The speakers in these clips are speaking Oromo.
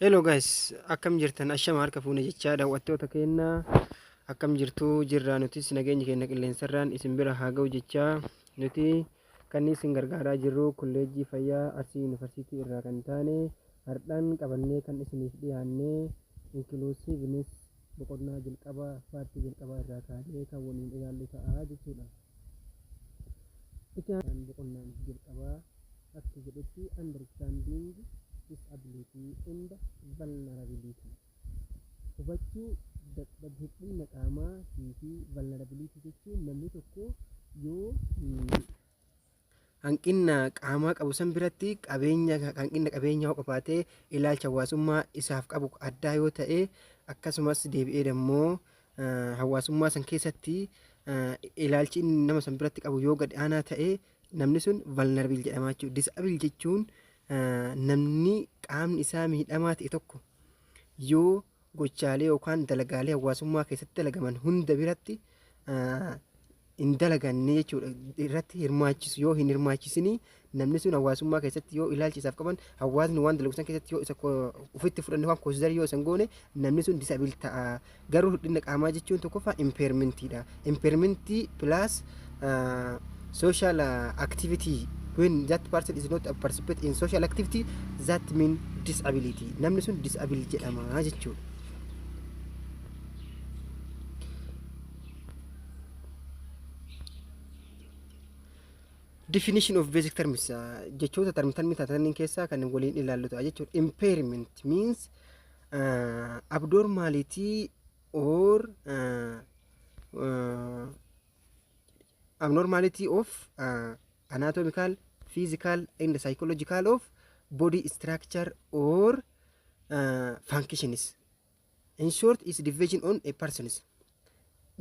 Hello guys, akkam jirtan ashama harka fuune jechaa daawwattoota keenya akkam jirtu jirraa nutis nageenyi keenya qilleensarraan isin bira haa ga'u jechaa nuti kan isin gargaaraa jirru kolleejjii fayyaa Arsii Yuunivarsiitii irraa kan taane hardhaan qabannee kan isiniif dhiyaanne inklusiivinis boqonnaa jalqabaa paartii jalqabaa irraa kaanee kan waliin ilaallu ta'a jechuudha. Itti aansuun boqonnaan jalqabaa akka jedhutti understanding disability and vulnerability hubachuu dadhab hir'inna qaamaa fi vulnerability jechuun namni tokko yoo hanqinna qaamaa qabu san biratti qabeenya hanqinna qabeenyaa yoo qabaate ilaalcha hawaasummaa isaaf qabu addaa yoo ta'e akkasumas deebi'ee immoo hawaasummaa san keessatti eh, ilaalchi inni nama san biratti qabu yoo gad aanaa ta'e namni sun vulnerable jedhama jechuudha. Disable jechuun eh, namni qaamni isaa miidhamaa ta'e tokko yoo gochaalee yookaan dalagaalee hawaasummaa keessatti dalagaman hunda biratti hin dalaganne jechuudha irratti hirmaachisu yoo hin hirmaachisinii namni sun hawaasummaa keessatti yoo ilaalchi isaaf qaban hawaasni waan dalagu san keessatti yoo isa ofitti fudhanne waan koosidarii yoo isan goone namni sun disabil ta'a garuu hir'ina qaamaa jechuun tokkoffaa impeermentiidha impairment plus uh, social uh, activity when that person is not a participate in social activity that mean disability namni sun disable jedhama jechuudha definition of basic terms uh, jechoota term termi taataniin keessaa kan waliin ilaallu ta'a jechuudha impairment means uh, abnormality or uh, uh, abnormality of uh, anatomical physical and psychological of body structure or uh, functions in short is division on a persons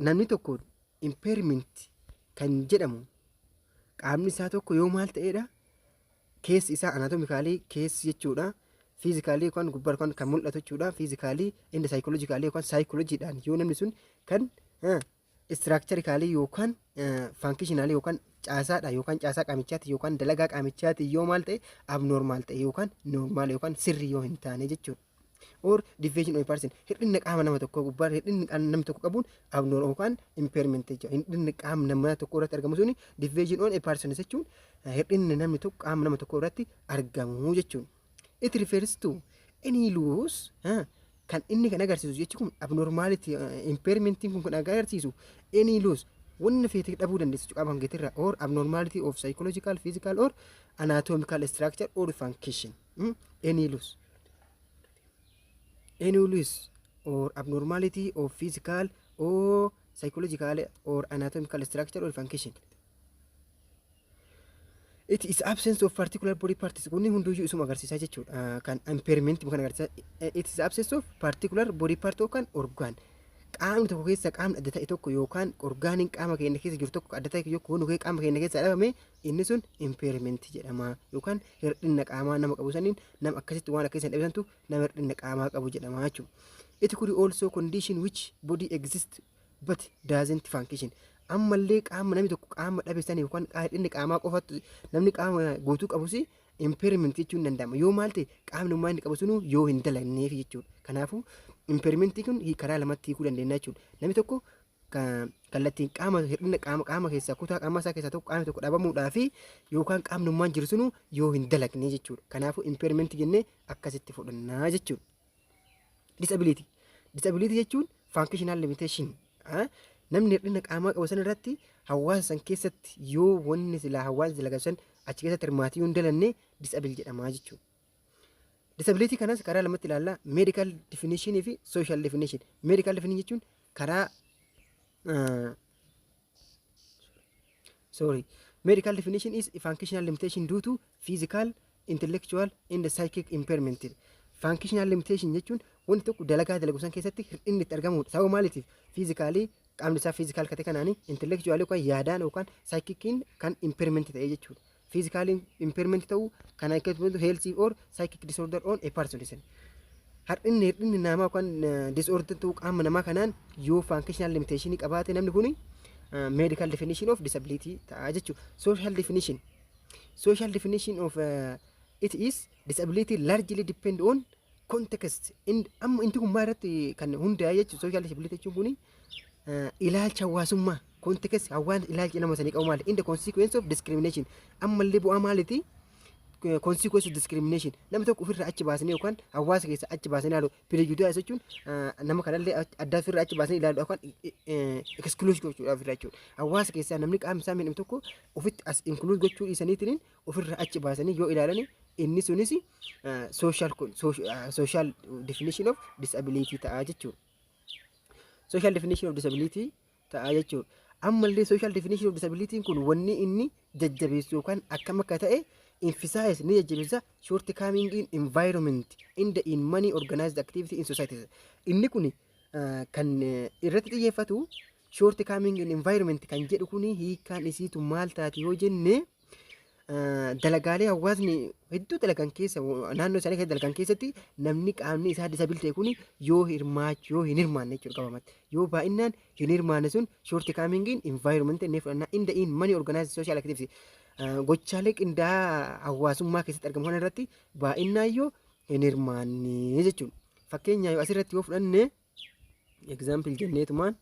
namni tokko impairment kan jedhamu qaamni isaa tokko yoo maal ta'eedha keessi isaa anaatomikaalii keessi jechuudha. Fiizikaalii yookaan gubbaarra yookaan kan mul'atu jechuudha. Fiizikaalii inni saayikoolojikaalii yookaan saayikoolojiidhaan yoo namni sun kan istiraakcharikaalii yookaan faankishinaalii yookaan caasaadha yookaan caasaa qaamichaati yookaan dalagaa qaamichaati yoo maal ta'e abnoormaal ta'e yookaan noormaal yookaan sirrii yoo hin taane jechuudha. or deviation of person hir'inna qaama nama tokkoo gubbaa hir'inni qaama namni tokko qabuun abnoor yookaan impairment jechuudha hir'inni qaama nama tokko irratti argamu suni deviation on a person jechuun eh, hir'inni namni tokko qaama nama tokko irratti argamu jechuun it refers to any loss eh, kan inni kan agarsiisu jechi kun abnormality eh, impairment kun kan agarsiisu any loss wanna feete dhabuu dandeessu jechuudha qaama kan keetirraa or abnormality of psychological physical or anatomical structure or function Hmm? Any loss. Any loss or abnormality of physical or psychological or anatomical structure or function. It is absence of particular body parts. Kunni hunduyyuu isuma agarsiisaa jechuudha. Ah, Kan impairment kan agarsiisa. Eh, It is absence of particular body part yookaan organ. Qaamni tokko keessa qaamni adda ta'e tokko yookaan orgaaniin qaama keenya keessa jiru tokko adda ta'e tokko yoo kee qaama keenya keessaa dhabame inni sun impairment jedhama yookaan hir'inna qaamaa nama qabu saniin nama akkasitti waan akka isan dhabesantu nama hir'inna qaamaa qabu jedhama jechuudha. It could also condition which body exists but doesn't function. Ammallee qaama namni tokko qaama dhabe sanii yookaan qaa- hir'inni qaamaa qofatu namni qaama guutuu qabus impairment jechuun ni danda'ama. Yoo maal ta'e qaamni ummaa inni qabu sunuu yoo hin dalagneef jechuudha. Kanaafuu impairment kun hii- karaa lamatti hiikuu dandeenya jechuudha. Namni tokko kallattiin qaama hir'ina qaama qaama keessaa kutaa qaamaa isaa keessaa tokko qaamni tokko dhabamuudhaa fi yookaan qaamni ummaan jiru sunu yoo hin dalagne jechuudha. Kanaafuu impairment jennee akkasitti fudhannaa jechuudha. Disability. Disability jechuun functional limitation. Namni hir'ina qaamaa qabu san irratti hawaasa san keessatti yoo wanni silaa hawaasni dalagan san achi keessatti hirmaatee yoo hin dalanne disable jedhamaa jechuudha. Disability kanas karaa lamatti ilaalla. Medical definition fi social definition. Medical definition jechuun karaa uh, sorry. Medical definition is a functional limitation due to physical, intellectual and psychic impairment. Functional limitation jechuun wanti tokko dalagaa dalagu san keessatti hir'inni itti argamudha. Sababa maaliitiif? Fiizikaalii qaamni isaa fiizikaal kate kanaan intellectual yookaan yaadaan yookaan psychicin kan impairment ta'e jechuudha. physical impairment ta'uu kan akkasumas health or psychic disorder on a person isin har'inni hir'inni namaa yookaan disorder ta'uu qaama namaa kanaan yoo functional limitation qabaate namni kun medical definition of disability ta'a jechuudha social definition social definition of uh, it is disability largely depend on context in amma inti kun maal irratti kan hundaa'e jechuudha social disability jechuun kun ilaalcha hawaasummaa kontekessi hawaan ilaalchi nama sanii qabu maali in the consequence of discrimination ammallee bu'aa maaliti consequence of discrimination nama tokko ofirraa achi baasanii yookaan hawaasa keessa achi baasanii ilaalu prejudice jechuun nama kanallee addaa ofirraa achi baasanii ilaalu yookaan exclusion gochuudha ofirraa jechuudha hawaasa keessaa namni qaamni isaa miidhamu tokko ofitti as include gochuu dhiisaniitiin ofirraa achi baasanii yoo ilaalani inni sunis social social definition of disability ta'a jechuudha. social definition of disability ta'a jechuudha. Ammallee social definition of disability kun wanni inni jajjabeessu yookaan akkam akka ta'e emphasize ni jajjabeessa short coming in environment in the in many organized activity in society. Inni kun ah, kan eh, irratti xiyyeeffatu short coming in environment kan jedhu kun hiikaan isiitu maal taati yoo jenne dalagaalee hawaasni hedduu dalagan keessa naannoo isaanii keessa dalagan keessatti namni qaamni isaa disabil ta'e kun yoo hirmaachu yoo hin hirmaanne jechuudha qabamatti yoo baay'inaan hin hirmaanne sun shoorti kaamingiin environment inni fudhanna in the in many organized social activities gochaalee qindaa'aa hawaasummaa keessatti argamu kana irratti baay'inaan yoo hin hirmaanne jechuudha fakkeenyaaf asirratti yoo fudhanne Example jenneetumaan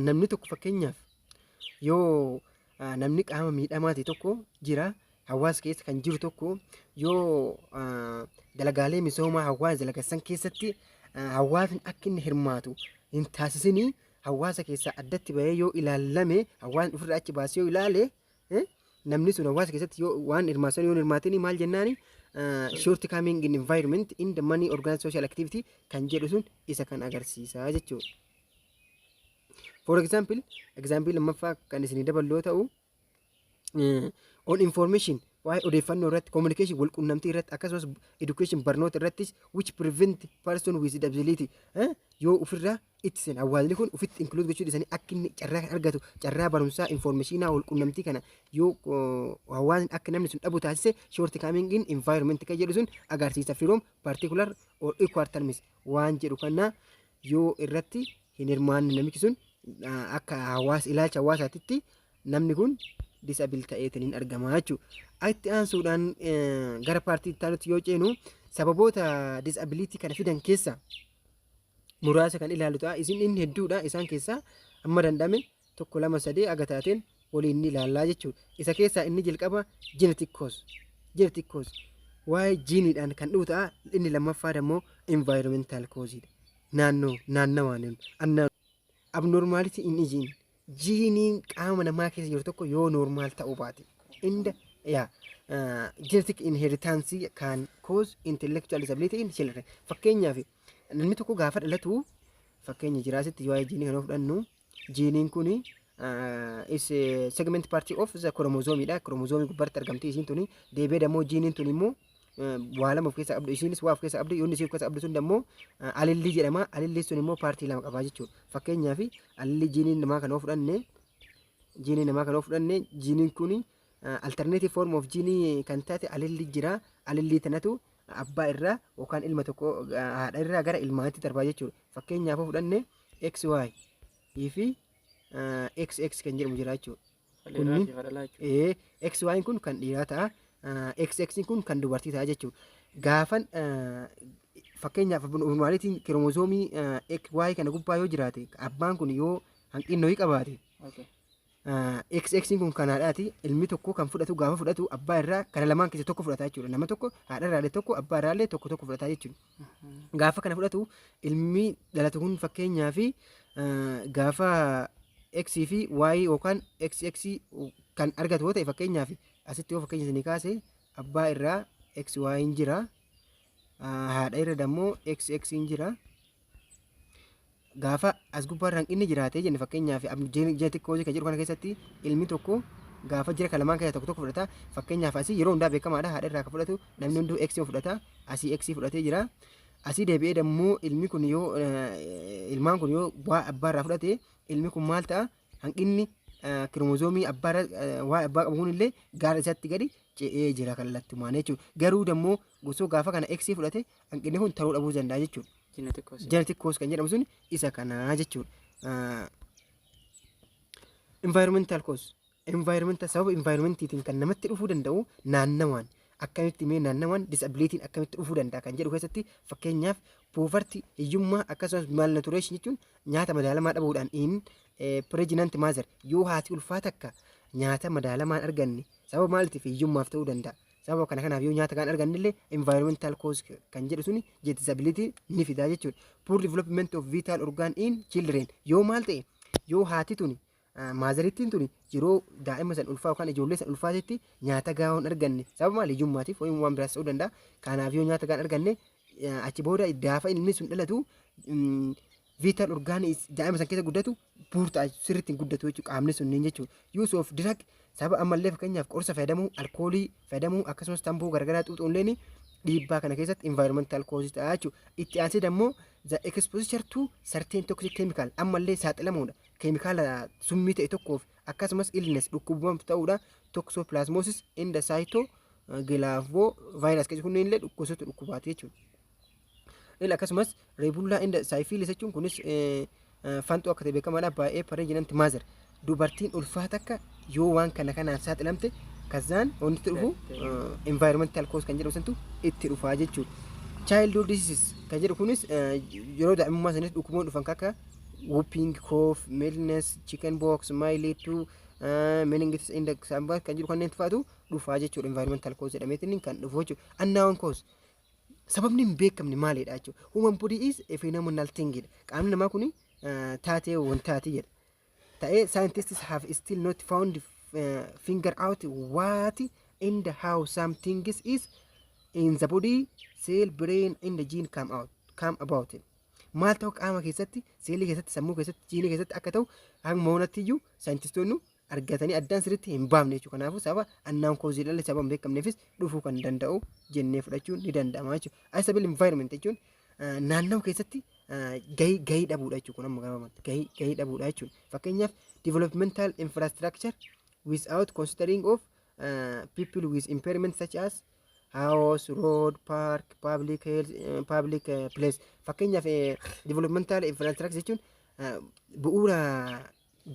namni tokko fakkeenyaaf yoo namni qaama miidhamaati tokko jira hawaasa keessa kan jiru tokko yoo dalagaalee misoomaa hawaasa dalagassan keessatti hawaasni akka inni hirmaatu hin taasisinii hawaasa keessaa addatti bahee yoo ilaallame hawaasni ofirraa achi baasee yoo ilaale namni sun hawaasa keessatti yoo waan hirmaatan yoo hirmaatini maal jennaani short coming in environment in the money organized social activity kan jedhu sun isa kan agarsiisaa jechuudha. For example, example lammaffaa kan isinii daballu yoo ta'u, on information waa'ee odeeffannoo irratti communication wal qunnamtii irratti akkasumas education barnoota irrattis which prevent person with disability yoo ofirraa itti seen awwaalli kun ofitti include gochuu dhiisanii akka inni carraa kan argatu carraa barumsaa informeeshinaa wal qunnamtii kana yoo hawaasni akka namni sun dhabu taasise short coming in environment kan jedhu sun agarsiisa firoom particular or equal terms waan jedhu kana yoo irratti hin hirmaanne namichi sun akka hawaasa ilaalcha hawaasaatitti namni kun disabil ta'eetiin hin argama jechuudha. Itti aansuudhaan gara paartii itti aanutti yoo ceenu sababoota disabilitii kana fidan keessaa muraasa kan ilaalu ta'a. Isin inni hedduudha. Isaan keessaa amma danda'ame tokko lama sadee aga taateen waliin ni ilaallaa jechuudha. Isa keessaa inni jalqaba genetic cause. Genetic cause waa'ee jiiniidhaan kan dhufu ta'a. Inni lammaffaa immoo environmental cause dha. Naannoo naannawaan annaan abnormality in gene jiiniin qaama namaa keessa jiru tokko yoo normaal ta'uu baate inda yaa genetic inheritance can cause intellectual disability in children fakkeenyaaf Namni tokko gaafa dhalatu fakkeenya jiraa asitti waa'ee jiinii kana fudhannu jiiniin kun is segment party of the chromosome dha chromosome gubbaatti argamti isiin tuni deebi'ee dammoo jiiniin tuni immoo waa lama of keessaa qabdu isiinis waa of keessaa qabdu yoonni isii of keessaa qabdu sun dammoo alillii jedhama alillii sun immoo paartii lama qabaa jechuudha fakkeenyaaf alillii jiinii namaa kana yoo fudhanne jiinii namaa kana yoo fudhanne jiiniin kun alternative form of jiinii kan taate alillii jira alillii tanatu abbaa irraa yookaan ilma tokko haadha irraa gara ilmaatti darbaa jechuudha. Fakkeenyaaf fudhanne XY fi XX kan jedhamu jira jechuudha. Kunniin XY kun kan dhiiraa ta'a. XX kun kan dubartii ta'a jechuudha. Gaafan fakkeenyaaf abnormaalitiin kiroomozoomii XY kana gubbaa yoo jiraate abbaan kun yoo hanqinna ho'i qabaate X X kun kan haadhaati ilmi tokko kan fudhatu gaafa fudhatu abbaa irraa kana lamaan keessa tokko fudhata jechuudha nama tokko haadha irraalee tokko abbaa irraalee tokko tokko fudhata jechuudha gaafa kana fudhatu ilmi dhalatu kun fakkeenyaa fi gaafa X fi Y yookaan X X kan argatu yoo ta'e fakkeenyaa fi asitti yoo fakkeenya isinii kaase abbaa irraa X Y hin jira haadha irra dammoo X X hin jira gaafa as gubbaa hanqinni jiraatee jenne fakkeenyaaf ji'a xiqqoo hojii kan jedhu kana keessatti ilmi tokko gaafa jira kan lamaan keessaa tokko tokko fudhata fakkeenyaaf asii yeroo hundaa beekamaadha haadha irraa kan fudhatu namni hunduu x fudhata asii x fudhatee jira asii deebi'ee dammoo ilmi kun yoo ilmaan kun yoo waa abbaa irraa fudhate ilmi kun maal ta'a hanqinni kiroomozoomii abbaa waa abbaa qabu kun illee gaara isaatti gadi ce'ee jira kallattumaan jechuudha garuu dammoo gosoo gaafa kana x fudhate hanqinni kun ta'uu dhabuu danda'a jechuudha. Genetic cause. Genetic cause kan jedhamu sun isa kanaa jechuudha. Ah, Environmental cause. Environmental sababa environmentiitiin kan namatti dhufuu danda'u naannawaan akkamitti mee naannawaan disabilitiin akkamitti dhufuu danda'a kan jedhu keessatti fakkeenyaaf poovarti hiyyummaa akkasumas malnutrition jechuun nyaata madaalamaa dhabuudhaan in pregnant mother yoo haati ulfaa takka nyaata madaalamaan arganne sababa maaliitiif hiyyummaaf ta'uu danda'a Sababa kana kanaaf yoo nyaata kan arganne illee environmental cause kan jedhu suni disability ni fidaa jechuudha. Poor development of vital organ in children yoo maal ta'e yoo haati tuni maazarittiin tuni yeroo daa'ima san ulfaa yookaan ijoollee san ulfaatetti nyaata gahaa hin arganne sababa maal hiyyummaatiif yookiin waan biraas ta'uu danda'a. Kanaaf yoo nyaata gahaa hin arganne achi booda gaafa ilmi sun dhalatu vital organs daa'ima san keessa guddatu buurtaa sirriitti hin guddatu jechuudha qaamni sunniin jechuudha. Use of drug sababa ammallee fakkeenyaaf qorsa fayyadamuu, alkoolii fayyadamuu akkasumas tamboo garagaraa xuuxuun illee dhiibbaa kana keessatti environmental causes ta'a jechuudha. Itti aansee dammoo the exposure to certain toxic chemical ammallee saaxilamuudha. Keemikaala summii ta'e tokkoof akkasumas illness dhukkubumaf ta'uudha. Toxoplasmosis and cyto gilavo virus keessi kunneen illee gosoota dhukkubaati jechuudha. Ila akkasumas reebullaa inda saayifiilis jechuun kunis fanxoo akka ta'e beekamaadha baay'ee pareejinanti maazer dubartiin ulfaa takka yoo waan kana kanaan saaxilamte kazaan wanti dhufu environmental cause kan jedhamu santu itti dhufaa jechuudha. Childhood diseases kan jedhu kunis yeroo daa'imummaa sanis dhukkuboon dhufan akka whooping cough, mealiness, chicken box, mileage to meningitis index kan jedhu kanneen faatu dhufaa jechuudha environmental cause jedhameetiin kan dhufu jechuudha. Unknown cause sababni hin beekamne maalidha jechuudha. Human body is a phenomenal thing jedha. Qaamni namaa kun taatee wantaati jedha. Ta'ee scientists have still not found uh, finger out what and how some things is in the body, cell, brain and the gene come out come about. Maal ta'u qaama keessatti, seelii keessatti, sammuu keessatti, jiinii keessatti akka ta'u hanga moonatti iyyuu saayintistoonni argatanii addaan sirriitti hin baafne jechuudha. Kanaafuu sababa annaan koozii dhala sababa hin beekamneefis dhufuu kan danda'u jennee fudhachuun ni danda'ama jechuudha. Unstable environment jechuun naannoo keessatti gahii gahii dhabuudha jechuudha. Kun amma gabaabumatti gahii gahii dhabuudha jechuudha. Fakkeenyaaf developmental infrastructure without considering of uh, people with impairment such as house, road, park, public health, uh, public uh, place. Fakkeenyaaf uh, developmental infrastructure jechuun uh, bu'uura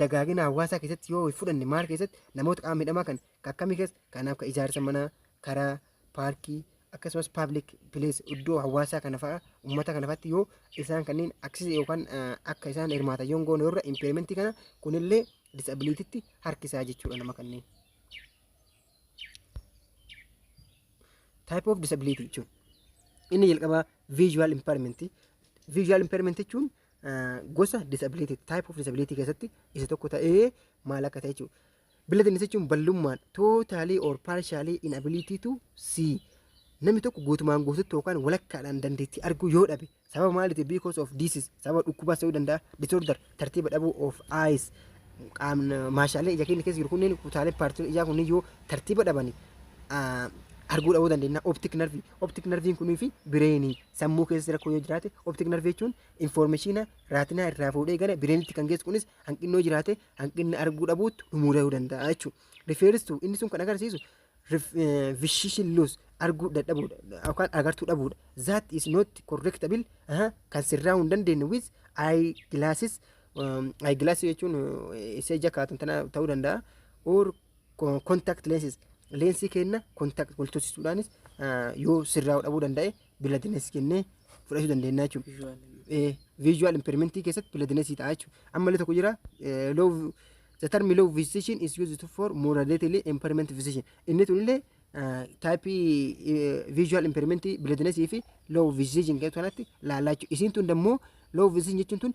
dagaagina hawaasaa keessatti yoo fudhanne maal keessatti namoota qaama miidhamaa kan kan akkamii keessa kanaaf kan ijaarsa manaa karaa paarkii akkasumas paablik pilees iddoo hawaasaa kana fa'a uummata kana fa'atti yoo isaan kanneen aksisa yookaan eh, akka isaan hirmaatan yoo hin goone irra impeerimentii kana kunillee disabiliititti harkisaa jechuudha nama kanneen. Type of disability jechuun inni jalqabaa visual impairment visual impairment jechuun gosa disability type of disability keessatti isa tokko ta'ee maal akka ta'e jechuudha. Blindness jechuun ballummaan totally or partially inability to see namni tokko guutumaan guututti yookaan walakkaadhaan dandeettii arguu yoo dhabe sababa maaliiti because of disease sababa dhukkubaas ta'uu danda'a disorder tartiiba dhabuu of eyes qaamni maashaalee ija keenya keessa jiru kunneen kutaalee paartiin ijaa kunneen yoo tartiiba dhabani arguu dhabuu dandeenya optic nerve optic nerviin kunii fi bireenii sammuu keessa rakkoo yoo jiraate optic nerve jechuun informeeshiina raatinaa irraa fuudhee gara bireenitti kan geessu kunis hanqinnoo jiraate hanqinna arguu dhabuutti dhumuu da'uu danda'a jechuudha. Refers to inni sun kan agarsiisu vision loss arguu dadhabuudha yookaan agartuu dhabuudha. That is not correctable aha, kan sirraa'uu hin dandeenye with eye glasses um, eye glasses jechuun eh, isa ija kaatun tana ta'uu danda'a or Contact lenses leensii keenna contact wal tursisuudhaanis yoo sirraa'uu dhabuu danda'e biladiness kennee fudhachuu dandeenya jechuudha. Visual impairment keessatti biladiness ta'a jechuudha. Ammallee tokko jira low the term low vision is used for moderately impairment vision. Inni tunillee taayippii viizuwaal impeerimentii bileedinesii fi loo viziijin jedhu kanatti laallaa jechuudha. Isiin tun immoo loo viziijin jechuun tun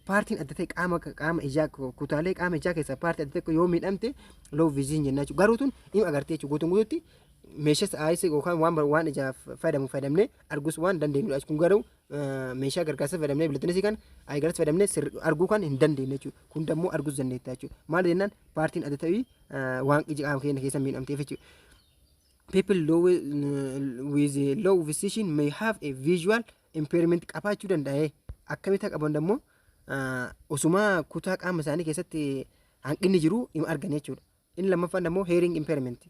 paartiin adda ta'e qaama qaama ijaa kutaalee qaama ijaa keessaa paartii adda ta'e yoo miidhamte loo viziijin jennaa jechuudha. Garuu tun hin agartee jechuudha. Guutuun guutuutti meeshaas aayisa yookaan waan waan ijaaf fayyadamu fayyadamnee arguus waan dandeenyudha. Kun garuu meeshaa gargaarsa fayyadamnee bileetinesii kan ayigarsa fayyadamnee arguu kan hin dandeenye jechuudha. Kun immoo arguus dandeettaa jechuudha. Maal jennaan paartiin adda ta'e waan ija qaama keenya keessa miidhamteef jechuudha. People low, with a low vision may have a visual impairment qabaachuu danda'a. Akkamitti akka qaban immoo osuma kutaa qaama isaanii keessatti hanqinni jiru hin argan jechuudha. Inni lammaffaan immoo hearing impairment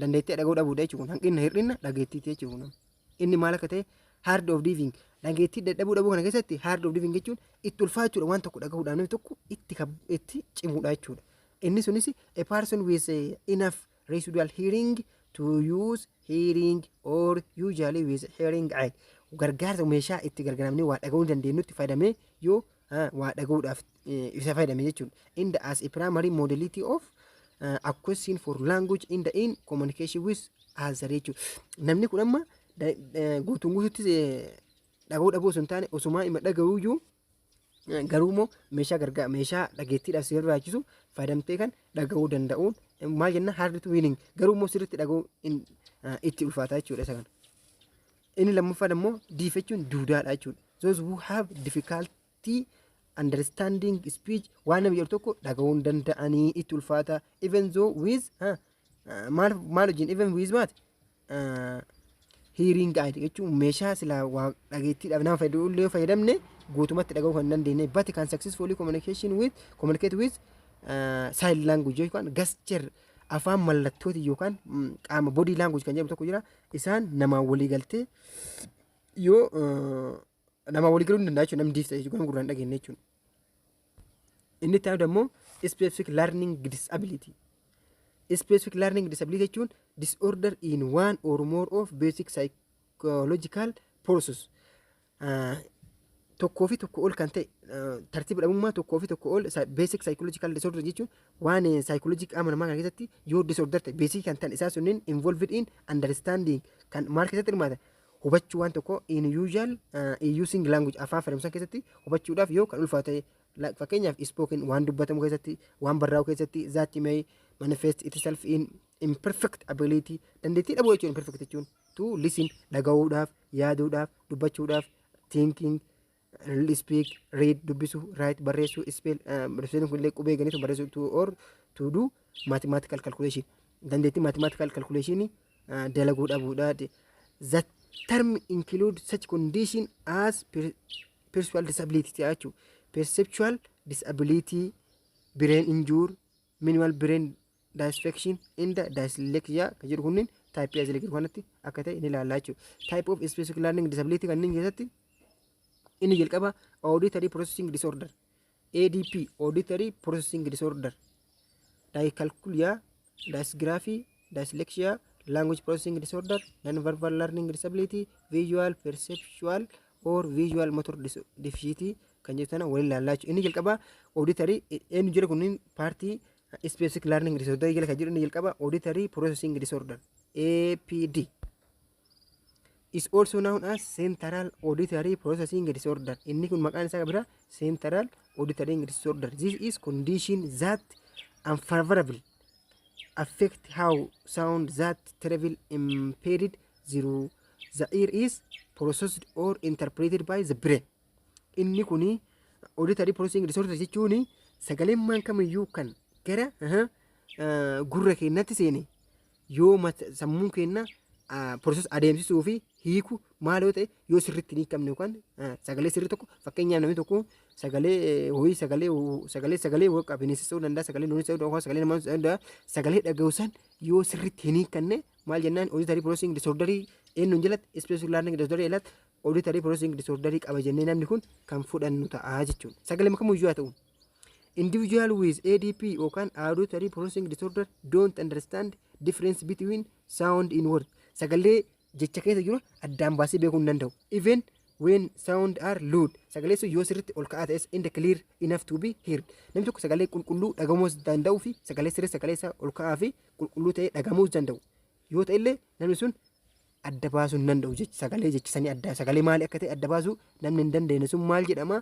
dandeettii dhaga'uu dhabuudha jechuudha. Hanqinna hir'inna dhageettiiti jechuudha. Inni maal akka ta'e hard of living dhageettii dadhabuu dhabuu kana keessatti hard of living jechuun itti ulfaachuudha waan tokko dhagahuudhaan namni tokko itti kab- itti cimuudha jechuudha. Inni sunis a person with enough residual hearing to use hearing or usually with hearing aid gargaarsa meeshaa itti gargaaramnee waa dhaga'uu dandeenyutti fayyadamee yoo ah, waa dhaga'uudhaaf eh, isa fayyadame jechuudha. In the as a primary modality of uh, acquisition for language in the in communication with other jechuudha. Namni kun amma da- eh, guutuun guutuutti eh, dhaga'uu dhabuu osoo hin taane osumaa ima dhaga'uuyyuu Garuu immoo meeshaa gargaa meeshaa dhageettiidhaaf si barbaachisu fayyadamtee kan dhaga'uu danda'uun maal jenna hard to hearing garuu immoo sirriitti dhaga'uu hin- ah, itti ulfaataa jechuudha isa kana. Inni lammaffaan immoo diif jechuun duudaadha jechuudha. Those who have difficulty understanding speech waan namni jedhu tokko dhaga'uu hin danda'anii itti ulfaata even though with ah, ah, maal maal wajjin even with maati hiiriing aayid jechuun meeshaa silaa waa dhageettiidhaaf nama fayyadu illee yoo fayyadamne guutumatti dhaga'uu kan hin dandeenye but kan successfully communication with communicate with sign language yookaan gesture afaan mallattooti yookaan mm, qaama body language kan jedhamu tokko jira isaan namaan walii galtee yoo eh, namaan walii galuu ni danda'a jechuudha namni diifta jechuudha gurra hin dhageenye jechuudha. Inni itti aanu immoo specific learning disability. Specific learning disability jechuun disorder in one or more of basic psychological process. Uh, tokkoo fi tokko ol kan ta'e uh, tartiiba dhabummaa tokkoo fi tokko ol basic psychological disorder jechuun waan uh, psychology qaama namaa kana keessatti yoo disorder ta'e basic kan ta'an isaa sunniin involved in understanding kan maal keessatti hirmaata hubachuu waan tokko in usual uh, using language afaan fayyadamsan keessatti hubachuudhaaf yoo kan ulfaatu ta'e like fakkeenyaaf spoken waan dubbatamu keessatti waan barraa'u keessatti that may manifest itself in imperfect ability dandeettii dhabuu jechuun imperfect jechuun to listen dhaga'uudhaaf yaaduudhaaf dubbachuudhaaf thinking speak read dubbisu write barreessu spell barreessuun kun illee qubee ganitu barreessu to or to do mathematical calculation dandeettii mathematical calculation dalaguu dhabuudha the term include such condition as per- perceptual disability jechuudha perceptual disability brain injury minimal brain dysfunction inda dyslexia kan jedhu kunniin taayippii asii gadi kanatti akka ta'e ni ilaalla jechuudha. Type of specific learning disability kanneen keessatti inni jalqaba auditory processing disorder ADP auditory processing disorder dyscalculia dysgraphy dyslexia, language processing disorder, non-verbal learning disability, visual perceptual or visual motor dis- deficiency kan jedhu sana waliin ilaallaa jechuudha. Inni jalqabaa auditory eenyu jira kunniin paartii specific learning disorder jala kan jiru inni jalqabaa auditory processing disorder APD. is also known as central auditory processing disorder inni kun maqaan isaa bira central auditory disorder this is condition that unfavorable affect how sound that travel impeded through the ear is processed or interpreted by the brain inni kun auditory processing disorder jechuun sagaleen maan kamiyyuu kan gara aha, ah, gurra keenyatti seene yoo mat- sammuun keenya process adeemsisuu fi hiiku maal yoo ta'e yoo sirriitti hin hiikamne yookaan ah, sagalee sirrii tokko fakkeenyaaf namni tokko sagalee eh, horii sagalee ho- sagalee sagalee waqa bineensis ta'uu danda'a sagalee looniis ta'uu danda'a sagalee namaa ta'uu danda'a sagalee dhaga'u san yoo sirriitti hin hiikanne maal jennaan auditory processing disorder eenyuun jalatti special learning disorder jalatti auditory processing disorder qaba jennee namni kun kan fudhannu ta'a jechuudha sagalee makamuu iyyuu haa ta'u Individual with ADP yookaan auditory processing disorder don't understand difference between sound in word. Sagalee jecha keessa jiru addaan baasee beekuu hin danda'u. Even when sound are loud. Sagalee sun yoo sirriitti ol ka'aa ta'es and clear enough to be heard. Namni tokko sagalee qulqulluu dhagamuus danda'uu fi sagalee sirrii sagalee isaa ol ka'aa fi qulqulluu ta'ee dhagamuus danda'u. Yoo ta'e illee namni sun adda baasuu hin danda'u jechi sagalee jechi sanii adda sagalee maali akka ta'e adda baasuu namni hin dandeenye sun maal jedhama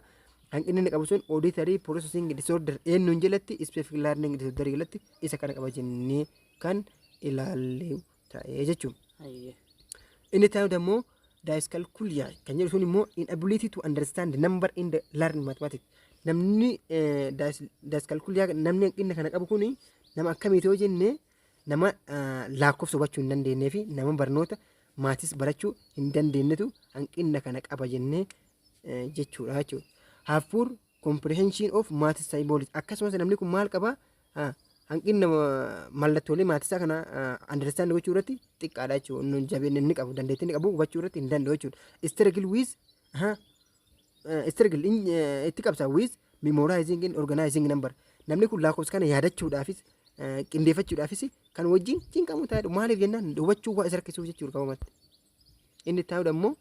hanqinni inni qabu sun auditory processing disorder eenyuun jalatti specific learning disorder jalatti isa kana qaba jennee kan ilaalle ta'ee jechuudha. Ayyee. Inni ta'u immoo dyscalculia kan jedhu sun immoo inability to understand number in the learned mathematics. Namni eh, dys- dyscalculia namni hanqina kana qabu kuni nama akkamiiti yoo jenne Nama laakkofsa hubachuu hin dandeenyee fi nama barnoota maatis barachuu hin dandeenyetu hanqinna kana qaba jennee jechuudha jechuudha. Have poor comprehension of maths symbolics. Akkasumas namni kun maal qaba? Hanqinna mallattoolee maatisaa kana understand gochuu irratti xiqqaadha jechuudha. Jabeenya inni qabu, dandeettii inni qabu hubachuu irratti hin danda'u jechuudha. Struggle with struggle in- eh, itti qabsa with memorizing and organizing number namni kun lakkoofsa kana yaadachuudhaafis eh, qindeeffachuudhaafis kan wajjin cinqamu taa'edha maaliif jennaan hubachuu waa isa rakkisuuf jechuudha qabamatti inni taa'udha immoo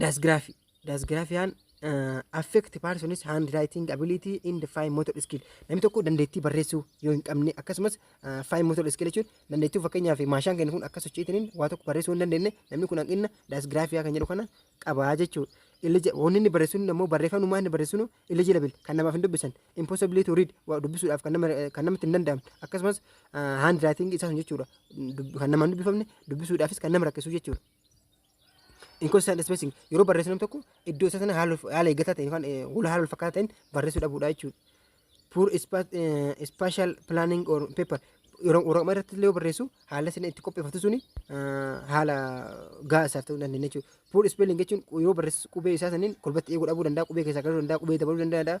daasgiraafii daasgiraafiyaan uh, affect person's handwriting ability in the fine motor skill namni tokko dandeettii barreessuu yoo hin qabne akkasumas uh, fine motor skill jechuun dandeettii fakkeenyaaf maashaan keenya kun akka sochiitiniin waa tokko barreessuu hin dandeenye namni kun hanqina daasgiraafiyaa kan jedhu kana qabaa jechuudha. Illija wanni inni barreessuun immoo barreeffamumaa inni barreessuun illegible kan namaaf hin dubbisan impossible to read waa dubbisuudhaaf kan nama kan namatti hin danda'amne akkasumas uh, handwriting isaa sun jechuudha Dub- kan namaan dubbifamne dubbisuudhaafis kan nama rakkisu jechuudha. Inconsistent spacing yeroo barreessu namni tokko iddoo isaa sana haala haala eeggataa ta'een yookaan eh, wal haala wal fakkaataa ta'een barreessuu dhabuudha jechuudha. Poor spa- eh, spatial planning or paper yeroo waraqaa irratti illee yoo barreessu haala sana itti qopheeffatu suni eh, haala gahaa isaaf ta'uu hin dandeenye jechuudha. Poor spelling jechuun yeroo barreessu qubee isaa saniin kolbatti eeguu dhabuu danda'a, qubee keessaa galuu danda'a, qubee dabaluu danda'a.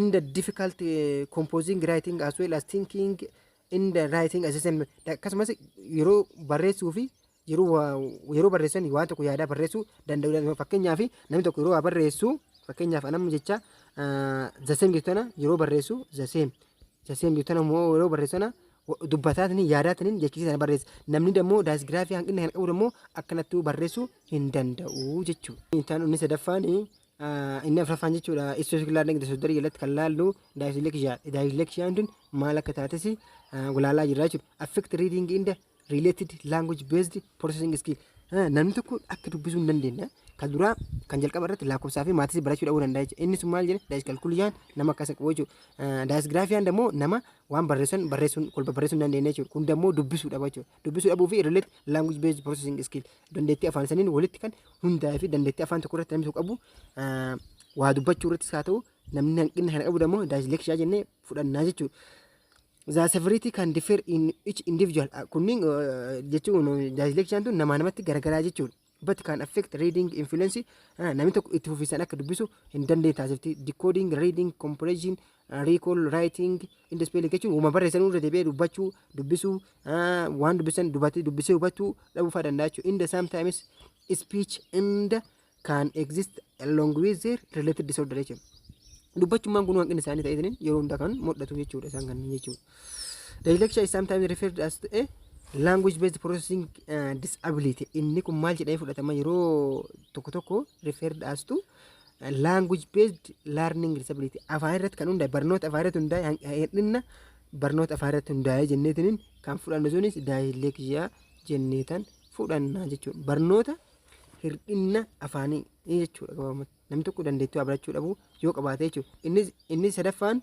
In the difficult eh, composing writing as well as thinking in the writing assessment akkasumas yeroo barreessuu fi yeroo waa- yeroo barreessan waan tokko yaadaa barreessuu danda'udha. Fakkeenyaaf namni tokko yeroo waa barreessu fakkeenyaaf anamma jecha zaseem jettu tana yeroo barreessu zaseem zaseem jettu tana immoo yeroo barreessana dubbataatni yaadaatni jechisiisa sana barreessa. Namni dammoo daasgiraafii hanqina kan qabu dammoo akkanattuu barreessuu hin danda'u jechuudha. Intaan inni sadaffaan inni afraffaan jechuudha istoosikilaar negda soddarii jalatti kan laallu daayisleekshiyaa daayisleekshiyaan tun maal akka taates gulaalaa jirra jechuudha affect reading in the related language based processing skill namni tokko akka dubbisuu hin dandeenye kan duraa kan jalqaba irratti lakkoofsaa fi maatis barachuu dhabuu danda'a jechuudha inni sun maal jedhe daayiskalkuuliyaan nama akkasa qabu jechuudha daayisgiraafiyaan immoo nama waan barreessan barreessuun kolba barreessuun hin dandeenye jechuudha kun immoo dubbisuu dhaba jechuudha Dubbisuu dhabuu fi relate language based processing skill dandeettii afaan saniin walitti kan hundaa'ee fi dandeettii afaan tokko irratti namni tokko qabu ah, waa dubbachuu irrattis haa ta'u namni hanqina kana qabu immoo daayilekshiyaa jennee fudhannaa jechuudha. The severity can differ in each individual. Ah, Kunniin ah, jechuun daayileksiyaan tun namaa namatti garagaraa jechuudha. but can affect reading influence uh, namni tokko itti fufiisan akka dubbisu hin dandeenye taasifti decoding reading comprehension uh, recall writing and spelling jechuun wama barreessan irra deebi'ee dubbachuu dubbisuu uh, waan dubbisan dubatee dubbisee hubachuu dhabuu fa'aa danda'a jechuudha inda sometimes speech inda can exist along with their related disorder jechuudha dubbachummaan kun hanqina isaanii ta'eetiin yeroo hundaa kan mul'atu jechuudha isaan kanneen jechuudha Dyslexia is sometimes referred as to a language based processing uh, disability. Inni kun maal jedhamee fudhatama yeroo tokko tokko referred as to uh, language based learning disability. Afaan irratti kan hundaa'e barnoota afaan irratti hundaa'e han- hir'inna barnoota afaan irratti hundaa'e jenneetiin kan fudhannu sunis dyslexia jenneetan fudhanna jechuudha. Barnoota hir'inna afaanii jechuudha gabaabumatti. Namni tokko dandeettii waa barachuu dhabuu yoo qabaate jechuudha. Innis inni sadaffaan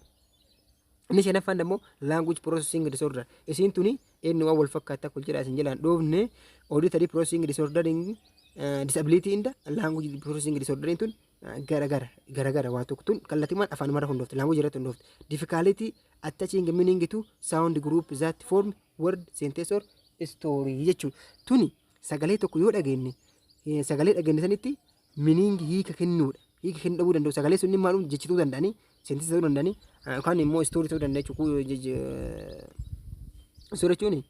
Inni shanaffaan ammoo language processing disorder. Isiin tuni inni waan wal fakkaata akka jedhaa isin jalaan dhoofne auditory processing disorder disability inda language processing disorder tun garagara garagara waa tokko tun kallattimaan afaan mara hundoofte language irratti hundoofte difficulty attaching meaning to sound group that form word sentence or story jechuudha. Tuni sagalee tokko yoo dhageenye sagalee dhageenye sanitti meaning hiika kennuudha. Hiika kennuu dhabuu danda'u. Sagalee sun dhimma haadhuun jechi ta'uu danda'anii, sentence ta'uu danda'anii, yookaan immoo story ta'uu danda'a jechuudha. Story jechuun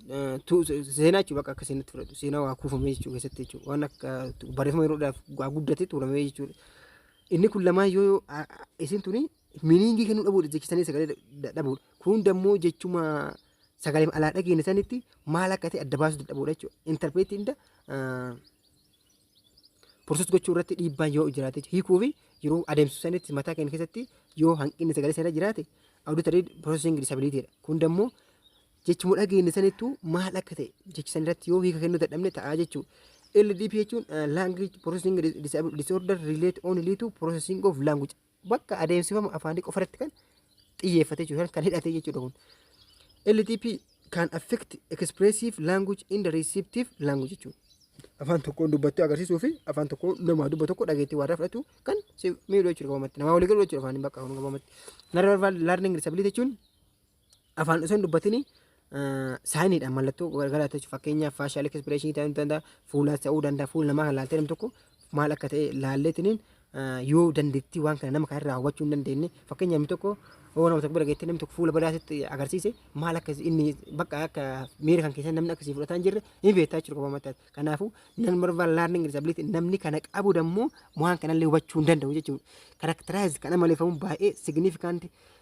seenaa jechuudha bakka akka seenatti fudhatu. Seenaa waa kuufamee jechuudha keessatti jechuudha. Waan akka barreeffama yeroo dheeraaf waa guddate tuulamee jechuudha. Inni kun lamaan yoo isin tuni meaning kennuu dhabuudha jechisanii sagalee dhabuudha. Kun dammoo jechuma sagalee alaa dhageenya sanitti maal akka ta'e adda baasuu dadhabuudha jechuudha. Interpreetii inda porosees gochuu irratti dhiibbaan yoo jiraate jechuudha. hiikuu fi yeroo adeemsisu sanitti mataa keenya keessatti yoo hanqinni sagalee sana jiraate auditory processing disability dha. Kun immoo jechuma dhageenya sanittuu maal akka ta'e jechi san irratti yoo hiika kennuu dadhabne ta'a jechuudha. LDP jechuun eh, language processing disorder relate only to processing of language bakka adeemsifama afaanii qofa irratti kan xiyyeeffatee jiru kan hidhatee jechuudha kun. LTP can affect expressive language in the receptive language jechuudha. Afaan tokkoon dubbattee agarsiisuu fi afaan tokkoon namaa dubba tokko dhageettii waarraa fudhatu kan si miidhu jechuudha gabamatti. Namaa walii galu jechuudha afaaniin bakka kun gabamatti. Narraa learning disability jechuun afaan osoo hin dubbatinii saayiniidhaan mallattoo garagaraa ta'e fakkeenyaaf faashaal ekspireeshinii ta'uu danda'a fuulaa ta'uu danda'a fuula namaa kan laaltee namni tokko maal akka ta'e laalleetiniin yoo dandeettii waan kana nama kan irraa hubachuu hin dandeenye fakkeenyaaf namni tokko yoo nama tokko bira geettee namni tokko fuula badaasitti agarsiise maal akka inni bakka akka miira kan keessan namni akkasii fudhataa hin jirre hin beektaa jechuudha kophaa mataa kanaafuu nan barbaad laarning disability namni kana qabu dammoo waan kanallee hubachuu hin danda'u jechuudha karakteraayiz kan amaleeffamu baay'ee signifikant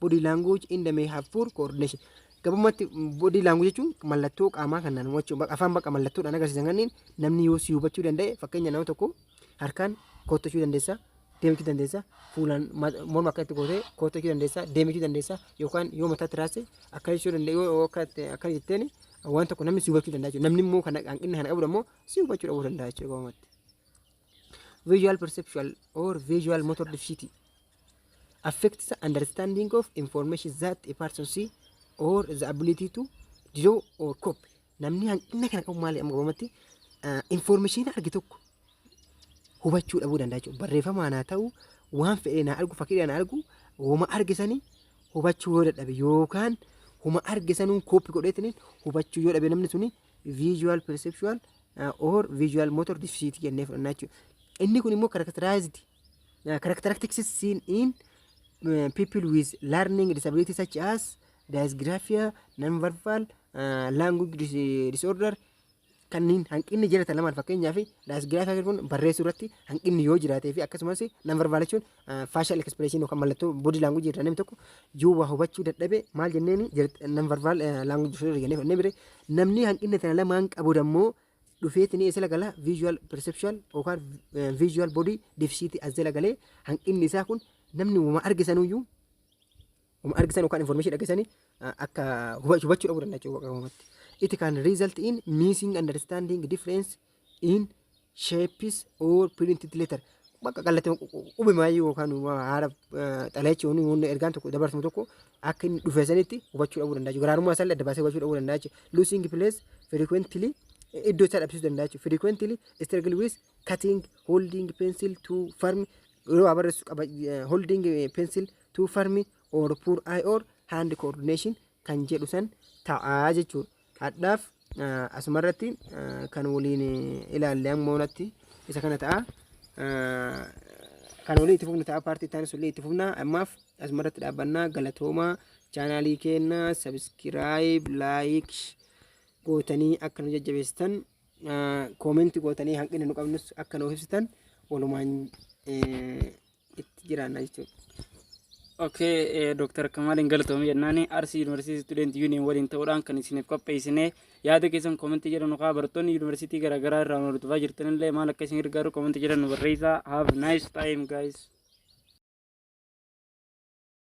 body language in the may have poor coordination gabumatti body language jechuun mallattoo qaamaa kan naannoo jechuun baqa- afaan baqa mallattoodhaan agarsiisan kanneen namni yoo si hubachuu danda'e fakkeenya nama tokko harkaan koottachuu dandeessa deemachuu dandeessa fuulaan ma- morma akka itti gootee koottachuu dandeessa deemachuu dandeessa yookaan yoo mataatti raasse akka jechuu dandeessa yoo yoo akka itti- akka jetteen waan tokko namni si hubachuu danda'a jechuudha namni immoo kana hanqinni kana qabu immoo si hubachuu dhabuu danda'a jechuudha gabumatti. visual perceptual or visual motor deficiency affects the understanding of information that a person see or the ability to draw or copy. Namni hanqina kana qabu maali amma qabamatti information arge tokko hubachuu dhabuu danda'a jechuudha. Barreeffamaan haa ta'u waan fedheen haa argu fakkiidhaan haa argu homa arge sanii hubachuu yoo dadhabe yookaan homa arge sanuun kooppi godheetiniin hubachuu yoo dhabe namni suni visual perceptual uh, or visual motor deficit jennee fudhannaa jechuudha. Inni kun immoo characterized Uh, characteristics seen in uh, people with learning disability such as dysgraphia, non-verbal, uh, language dis disorder kanneen hanqinni jiratan lamaan fakkeenyaaf dysgraphia kun barreessuu irratti hanqinni yoo jiraatee fi akkasumas non-verbal jechuun uh, facial expression yookaan mallattoo body language irraa namni tokko yoo waa hubachuu dadhabe maal jenneeni non-verbal uh, language disorder jennee fannee bire namni hanqinni kana lamaan qabu ammoo dhufeeti ni isla gala visual perceptual yookaan eh, visual body deficit as jala galee hanqinni isaa kun namni wama argisanuyyuu wama argisan yookaan information dhagesanii ah, akka huba- hubachuu dhabuu danda'a jechuudha waqa uumatti. It can result in missing understanding difference in shapes or printed letter. bakka kallattii qubimaayyuu yookaan haala xalee jechuun wanni ergaan tokko dabarfamu tokko akka inni dhufe sanitti hubachuu dhabuu danda'a. Garaarummaa isaa adda baasee hubachuu dhabuu danda'a. Losing place frequently iddoo isaa dhabsiisuu danda'a. Frequently struggle with cutting holding pencil to firm yeroo barreessu qaba holding pencil to firm or poor eye or hand coordination kan jedhu san ta'aa jechuudha. Hadhaaf asuma irratti kan waliin ilaalle amma onatti isa kana ta'a. Kan waliin itti fufnu ta'a paartii itti aansuun itti fufna. Ammaaf asuma irratti dhaabbannaa galatoomaa chaanaalii keenya sabiskiraayib laayik gootanii akka nu jajjabeessitan koomenti gootanii hanqina nu qabnus akka nuuf ibsitan walumaan itti jiraanna jechuudha. Okay, eh, Dr. Kamaaliin galatoomii jennaan Arsii Yuunivarsiitii Student Union waliin ta'uudhaan kan isiniif qopheessine yaada keessan koomentii jedhan nukaa barattoonni yuunivarsiitii garaagaraa irraa nu hordofaa jirtanillee maal akka isin gargaaru koomentii jedhan nu barreessaa. Have nice time guys.